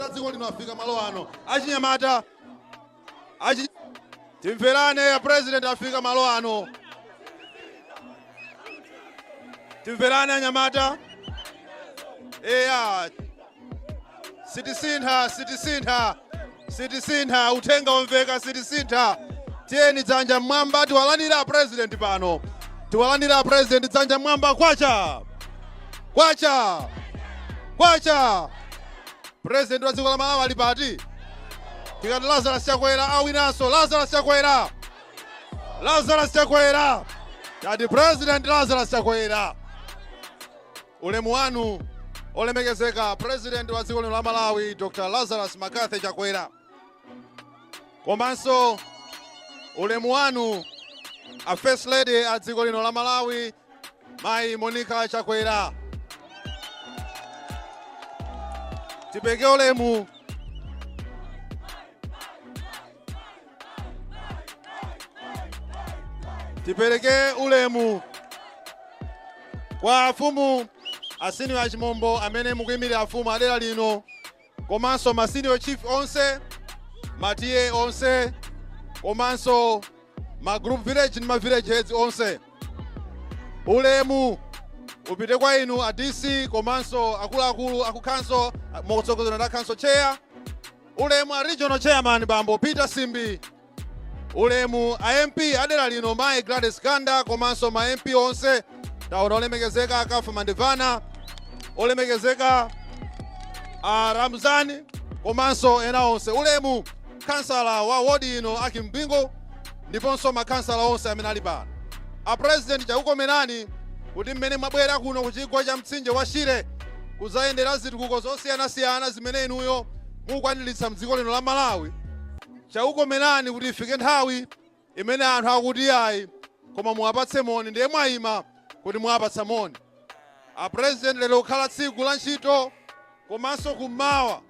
wa dziko lino afika malo ano achinyamata achi timverane a president afika malo ano timverane anyamata eya sitisintha sitisintha Sitisintha, uthenga wamveka sitisintha. Tiyeni dzanja mmwamba tiwalandire a president pano. Tiwalandire a president dzanja mmwamba kwacha. Kwacha. Kwacha. President wa dziko la Malawi ali pati. Tikati Lazarus Chakwera awinanso. Lazarus Chakwera. Lazarus Chakwera. Tati president Lazarus Chakwera. Ulemu wanu olemekezeka president wa dziko lino la Malawi Dr. Lazarus McCarthy Chakwera. Komanso ulemu wanu a first lady a dziko lino la Malawi Mayi Monica Chakwera. Tipeke ulemu tipereke ulemu kwa afumu a senior a Chimombo amene mukuyimirira afumu adera lino komanso ma senior chief onse ma TA onse komanso ma group village ndi ma village heads onse ulemu upite kwa inu a dc komanso akuluakulu aku council motsogozedwa ndi a council chair Ulemu a Regional Chairman Bambo Peter Simbi, ulemu a MP adera lino Mayi Gladys Ganda komanso ma MP onse taona olemekezeka a Kafandikhale Mandevana olemekezeka a Ramzani komanso ena onse ulemu kansala wa wodi ino akimpingo ndiponso ma khansala onse amene ali pano. A President chakukomerani kuti mmene mwabwera kuno ku chigwa cha mtsinje wa Shire kudzayendera zitukuko zosiyanasiyana zimene inuyo mukukwaniritsa mdziko lino la Malawi, chakukomerani kuti ifike nthawi imene anthu akuti iyayi koma muwapatse moni ndiye mwayima kuti muwapatse moni. A President lero kukhala tsiku la ntchito komanso kummawa,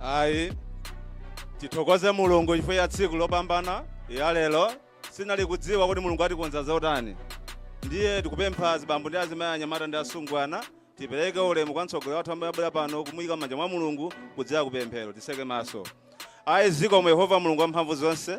ayi tithokoze mulungu chifukwa ya tsiku lopambana ya lero sinali kudziwa kuti mulungu atikonza zotani ndiye tikupempha azibambo ndi azimayi anyamata ndi asungwana tipereke ulemu kwa mtsogoleri wathu amene abwera pano kumuyika mmanja mwa mulungu kudzera kupemphero tiseke maso ayi zikomo yehova mulungu wa mphamvu zonse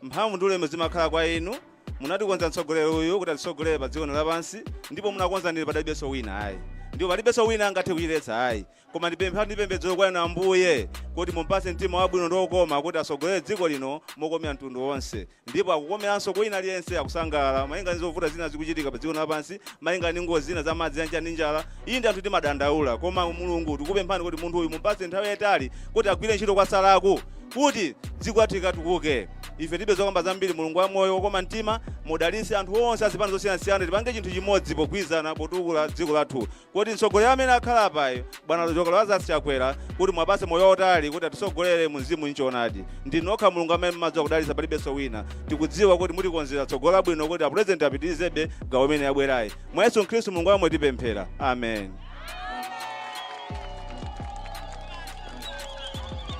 mphamvu ndi ulemu zimakhala kwa inu munatikonza mtsogoleri uyu kuti atitsogolere pa dziko lapansi ndipo munakonza ndili padalibenso wina ayi ndipo palibenso wina angathe kuchiletsa ayi Koma ndipempha ndi pemphero kwa Inu, Ambuye, kuti mumpatse mtima wabwino ndi wokoma kuti atsogolere dziko lino mokomera mtundu wonse, ndipo akukomeranso kwa wina aliyense, akusangalala malinga ndi zovuta zina zikuchitika padziko lino lapansi, malinga ndi ngozi zina za madzi, ya anja ndi njala. Inde anthu timadandaula, koma, Mulungu, tikukupemphani kuti munthu uyu mumpatse nthawi yaitali kuti agwire ntchito kwatsalaku, kuti dziko lathu likatukuke. Ife tilibe zokamba zambiri, Mulungu wamoyo, wokoma mtima, mudalitse anthu onse a zipani zosiyanasiyana, tipange chinthu chimodzi pogwirizana potukula dziko lathu. Kuti mtsogoleri amene akhala apayi bwana Dr Lazarus Chakwera kuti muwapatse moyo wautali kuti atitsogolere mu mzimu n'choonadi ndinu nokha mulungu amene mumadziwa kudalitsa palibenso wina tikudziwa kuti mutikonzera tsogolo labwino kuti apulezidenti apitirizebe gawo imene yabwerayi mwa yesu khristu mulungu wamoyo tipemphera amen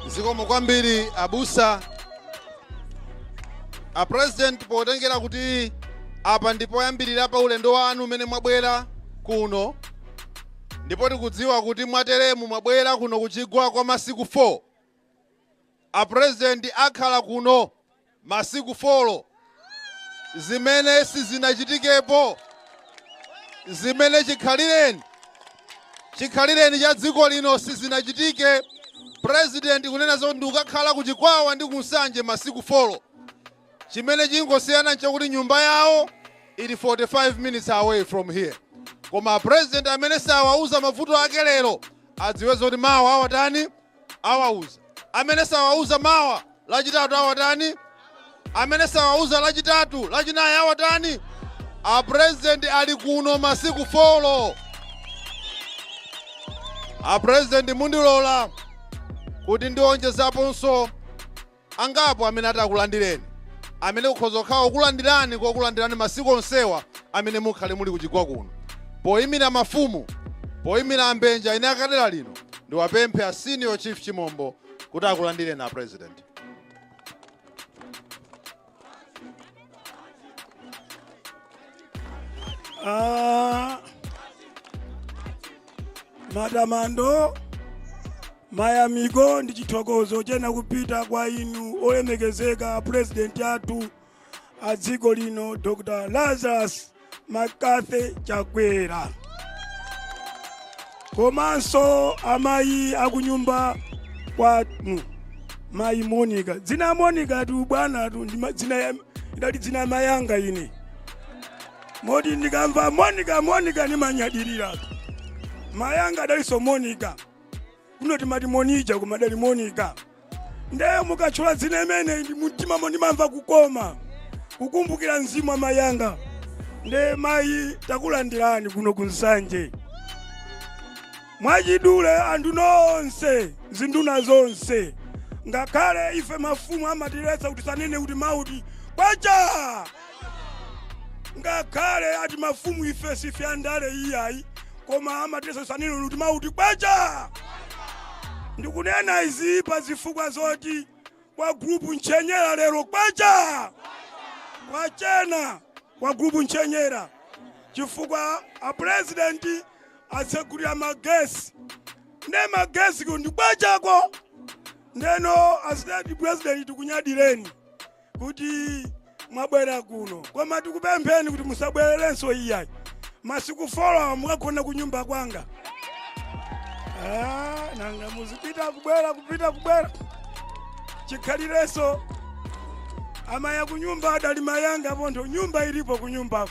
zikomo kwambiri abusa a president potengera kuti apa ndi poyambirira pa ulendo wanu umene mwabwera kuno ndipo tikudziwa kuti mwateremu mwabwera kuno kuchigwa kwa masiku 4 a president akhala kuno masiku 4 zimene sizinachitikepo zimene chikhalireni chikhalireni cha dziko lino sizinachitike president kunena zoti ndikukakhala ku Chikwawa ndi ku Nsanje masiku folo. Chimene chikungosiyana nchakuti nyumba yawo ili 45 minutes away from here. Koma president amene sawauza mavuto ake lero adziwe zoti mawa awatani awauza. Amene sawauza mawa lachitatu awatani? Amene sawauza lachitatu, lachinayi awatani? A president ali kuno masiku folo. A president mundilola kuti ndionjezaponso angapo amene ata akulandireni, amene kukhoza kukhala kulandirani kokulandirani masiku onsewa amene mukhale muli kuchigwa kuno. Poyimira mafumu, poyimira a mbenje ena a kudera lino, ndiwapemphe a Senior Chief Chimombo kuti akulandireni a President. Ah, matamando mayamiko ndi chithokozo chenicheni kupita kwa inu olemekezeka purezidenti athu a dziko lino dr lazarus mccarthy chakwera komanso amayi akunyumba kwanu mayi monica dzina ya monicatu bwanatu ndi ma- dzina ya- idali dzina ya mayanga ine moti ndikamva monica monica ndimanyadirira mayanga adalinso monica kuno timati monija koma adali monica nde mukatchula dzina limeneli mumtimamo ndimamva kukoma kukumbukira mzimu wa mayi anga nde mayi takulandirani kuno ku nsanje mwachidule anthu nonse zinduna zonse ngakhale ife mafumu amatiletsa kuti tisanene kuti mau oti kwacha ngakhale ati mafumu ife sife andale iyayi koma amatiletsa tisanene kuti mau oti kwacha ndikunena izi pa zifukwa zoti kwa grupu ntchenyera lero kwacha kwachena kwa grupu ntchenyera chifukwa apurezidenti atsegulira magesi nde magesi ku ndi kwachako ndeno a state purezidenti tikunyadireni kuti mwabwera kuno koma tikupempheni kuti musabwererenso iyayi masiku folo mukagona ku nyumba kwanga Ah, nanga muzipita kubwera kupita kubwera chikhalirenso amayi a kunyumba adali mayi anga pontho nyumba ilipo kunyumbako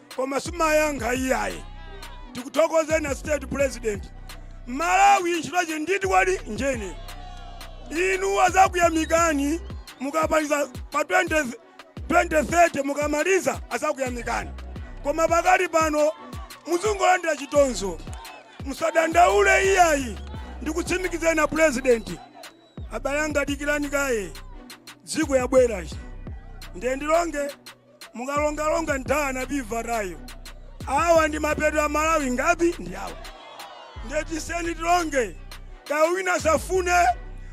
koma simayankha iyayi tikuthokozeni a state president malawi ntchitochi nditi kwadi njeni inu azakuyamikani mukapaliza pa 20 2030 mukamaliza azakuyamikani koma pakali pano muzungolandira chitonzo musadandaule iyayi ndikutsimikizeni a president abale anga dikirani kaye dziko yabwerachi ndiye ndilonge mukalongalonga nthawi anapibva tayu awa ndi mapeto a malawi ngapi ndi awa ndiye tisiyeni tilonge kaya wina asafune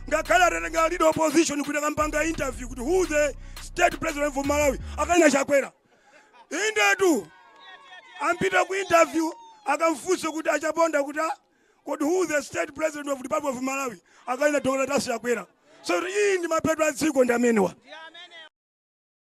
ngakhale atatenga leader opposition kuti akampanga interview kuti who the state president of malawi akanena chakwera indetu atapita ku interview akamfunse kuti achaponda kuti "Ah, kodi who the state president of republic of malawi akanena dr lazarus chakwera so iyi ndi mapeto a dziko ndi amenewa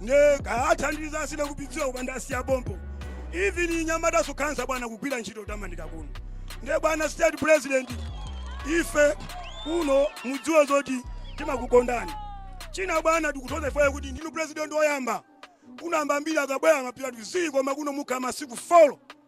nde kaya athandiza asina kupidziwa kupanda asiya pompo even anyamata sukhanza bwana kugwira ntchito tamanika kuno nde bwana state president ife kuno mudziwe zoti timakukondani china bwana tikuthokoza ifeyo kuti ndinu president oyamba kuno ambirimbiri akabwera amapita tizii koma kuno mukhala masiku folo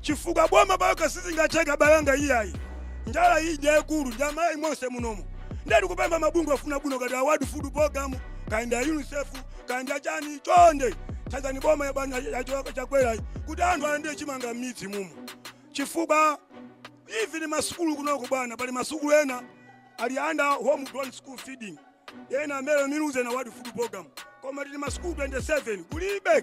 chifukwa boma palokha sizingatheke abale anga iyayi njala iyi ndi yayikulu ndi amalawi monse munomo ndiye tikupempha mabungwe afuna bwino ngati a world food program kaya ndi a unicef kaya ndi achani chonde thandizani boma ya bwana yachoka chakwerayi kuti anthu alandire chimanga m'midzi mumo chifukwa even masukulu kunoko bwana pali masukulu ena ali under home grown school feeding ena amene miluze na world food program koma tili masukulu 27 kulibe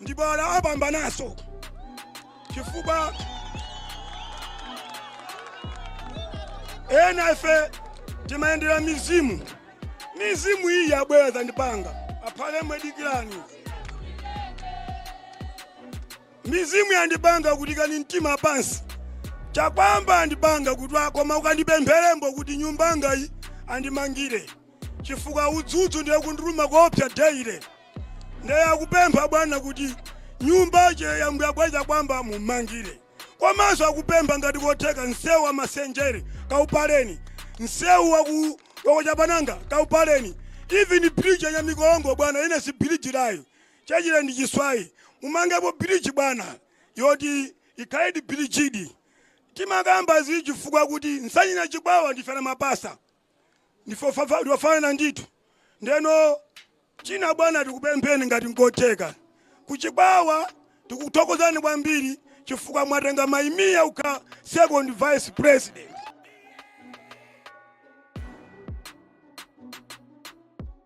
Ndipo ala apambananso chifukwa ena ife timayendera mizimu mizimu iyi yabwera zandipanga aphale imwe dikirani mizimu yandipanga kuti ikani mtima pansi Chakuamba andipanga kuti koma ukandipempherembo kuti nyumbanga iyi andimangire chifukwa udzudzu ndiye ukundiluma koopsa daily ndiye akupempha bwana kuti nyumbache ya mbuya Gwanda Chakuamba mumangire komanso akupempha ngati kotheka msewu wa masenjere kaupaleni msewu waku Chapananga kaupaleni even bridge ya mikolongo bwana ine si bridge layo chachire ndi chiswayi mumangepo bridge bwana yoti ikhaledi bridgedi timakamba izi chifukwa kuti Nsanje na chikwawa ndife ana mapasa ndife ofafa- ndiofanana ndithu ndeno china bwana tikupempheni ngati nkotheka kuchikwawa tikuthokozani kwambiri chifukwa mwatenga mai Mia kukhala second vice president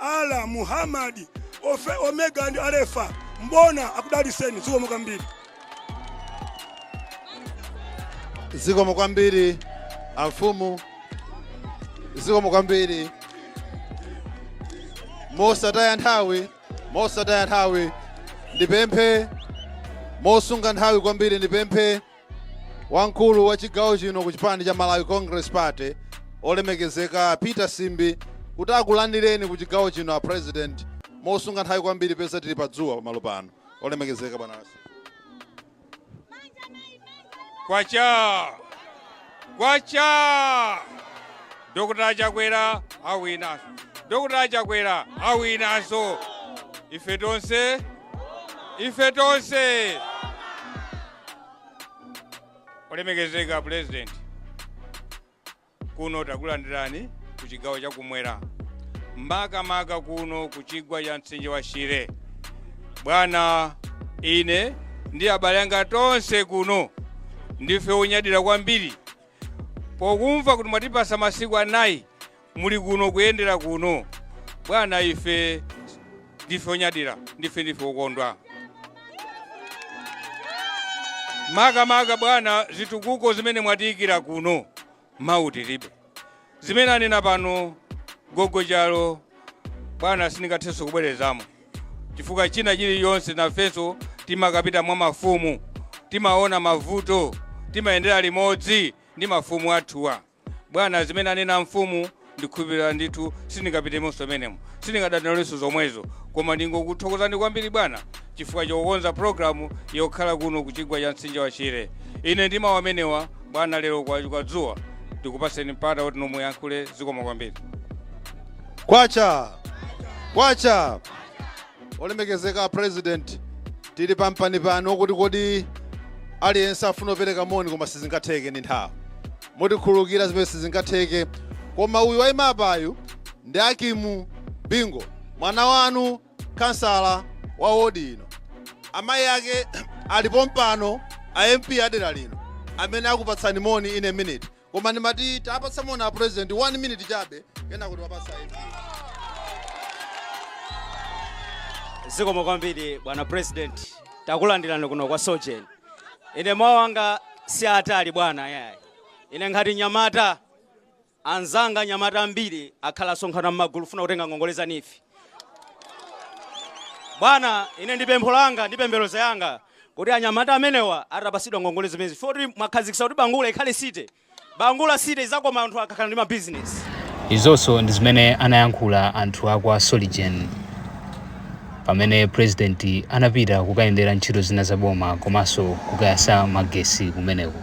Allah Muhammad Omega ndi Alefa Mbona akudaliseni zikomo kwambiri zikomo kwambiri amfumu zikomo kwambiri mosataya nthawi mosataya nthawi ndipemphe mosunga nthawi kwambiri ndipemphe Wamkulu wa chigawo chino ku chipani cha Malawi Congress Party olemekezeka Peter Simbi kuti akulandireni ku chigawo chino a President mosunga nthawi kwambiri peza tili pa dzuwa pamalo pano olemekezeka bwana kwacha kwacha dr chakwera awinaso dr chakwera awinaso ife tonse ife tonse olemekezeka pulezidenti kuno takulandirani ku chigawo chakumwera makamaka kuno ku chigwa cha mtsinje wa shire bwana ine ndi abale anga tonse kuno ndife onyadira kwambiri pokumva kuti mwatipasa masiku anayi Muli kuno, kuyendera kuno, bwana. Ife ndife onyadira, ndife, ndife okondwa, makamaka, bwana, zitukuko zimene mwatiyikira kuno. Mawu tiribe. Zimene anena pano gogo chalo, bwana, sindingathenso kubwerezamo, chifukwa china chilichonse nafenso timakapita mwa mafumu, timaona mavuto, timayendera limodzi ndi mafumu athuwa. Bwana, zimene anena mfumu ndikhulupirira ndithu, sindingapitemonso m'menemo, sindingabwerezenso zomwezo. Koma ndingokuthokozani kwambiri bwana chifukwa chokonza programu yokhala kuno ku chigwa cha mtsinje wa Shire. Ine ndi mawu amenewa, bwana, lero kwachuluka dzuwa ndikupatseni mpata kuti inu muyankhule. Zikomo kwambiri. Kwacha! Kwacha! Olemekezeka a President, tili pampanipani wokuti kodi aliyense afuna kupereka moni koma sizingatheke ndi nthawi. Mutikhululukira zimene sizingatheke. Koma uyu wayima apayu ndi Akimu Bingo, mwana wanu kansala wa wodi ino. Amayi ake ali pompano a MP a dera lino amene akupatsani moni in a minute. Koma ndimati tapatsani moni a president 1 minute chabe kenako tiwapasa MP. zikomo kwambiri bwana president takulandirani kuno kwa Sorgin ine mawu anga si atali bwana yayi ine ngati nyamata anzanga nyamata ambiri akhala asonkhana m'magulu funa kutenga ngongole za NEEF bwana ine ndi pempho langa ndi pembedzero yanga Kuti anyamata amenewa atapasidwa ngongole zimenezi chifukwa choti mwakhazikisa kuti Bangula ikhale city, Bangula city izakoma anthu akakhala ndi ma business. Izonso ndi zimene anayankhula anthu a kwa Sorgin pamene president anapita kukayendera ntchito zina za boma komanso kukayasa magesi kumeneko.